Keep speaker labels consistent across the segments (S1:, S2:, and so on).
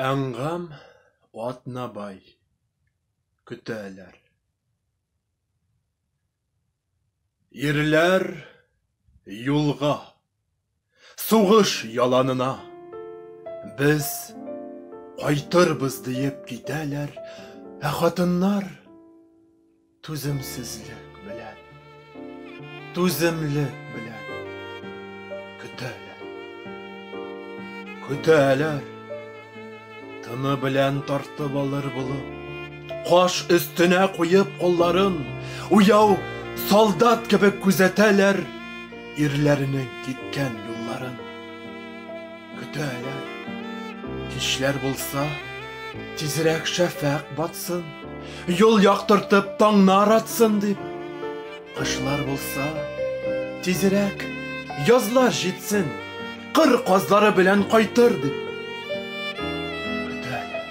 S1: Әнгам Атнабай көтәләр. Ирләр юлга, сугыш яланына, без кайтырбыз диеп китәләр, ә хатыннар Түземсезлек белән, түземлек белән көтәләр. Көтәләр. Тыны белән тартып алыр булып, каш өстенә куеп кулларын, уяу солдат кебек күзәтәләр ирләренең киткән юлларын. Көтәләр. Кичләр булса, тизрәк шәфәк батсын, юл яктыртып таңнар атсын дип. Кышлар булса, тизрәк язлар җитсен, кыр казлары белән кайтыр дип. Көтәләр.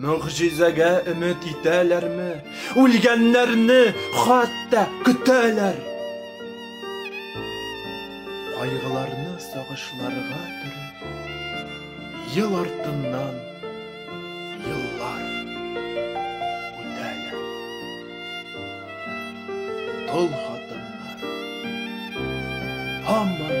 S1: Могҗизәгә өмет итәләрме? Үлгәннәрне хатта көтәләр. Кайгыларны сагышларга төреп, ел артыннан еллар үтәләр. Тол хатыннар һаман